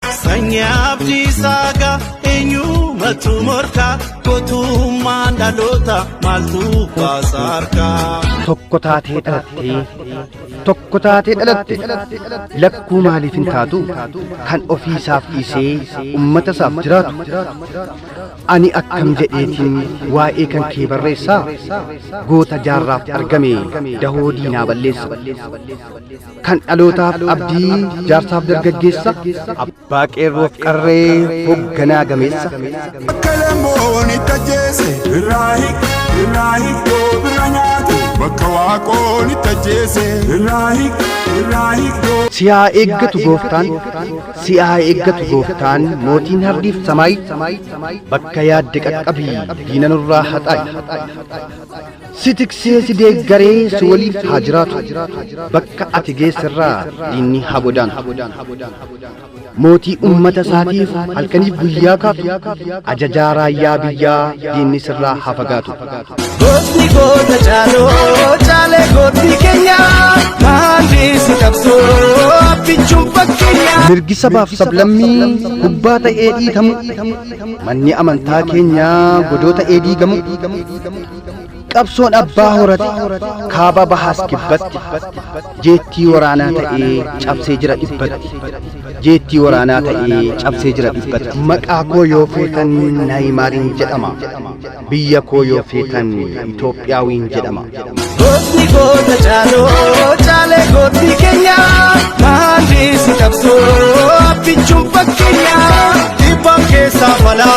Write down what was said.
Sanyii abdii saagaa eenyumatu morkaa gootummaan dhaloota maaltu baasa harkaa. Tokko taatee dhalattee tokko taatee dhalatte lakkuu maaliif hin taatu kan ofii isaaf dhiisee ummata isaaf jiraatu ani akkam jedheetiin waa'ee kan kee barreessaa goota jaarraaf argame dahoo diinaa balleessa. Kan dhalootaaf abdii jaarsaaf dargaggeessa. Abbaa qeerroof qarree hogganaa gameessa. Kalamoon itti ajjeese irraa hiik irraa hiik yoo bira nyaate bakka waaqoon itti ajjeese irraa hiik irraa hiik yoo. Si haa eeggatu gooftaan, si haa eeggatu gooftaan mootiin hardiif samaay bakka yaadde qaqqabii diina nurraa haxaayi. Si tiksee si deeggaree si waliif haa jiraatu. Bakka ati geesserraa diinni haa godaantu. Mootii uummata isaatiif halkaniif guyyaa kaatu. Ajajaa raayyaa biyyaa diinni sirraa haa fagaatu. Gootni goota caaloo caalee gootni keenya maandii si qabsoo abbichuun fakkeenya. Mirgi sabaaf sablammii gubbaa ta'ee dhiitamu. Manni amantaa keenyaa godoo ta'ee diigamu. Qabsoon abbaa horate kaaba bahaas kibbatti jeettii waraanaa ta'ee cabsee jira dhibbatti jeettii waraanaa ta'ee cabsee jira dhibbatti maqaa koo yoo feetan naayimaariin jedhama biyya koo yoo feetan Itoophiyaawiin jedhama. Gootni goota caaloo caalee gootni keenya maalii si qabsoo abbichuun fakkeenya dhibbaan keessaa falaa.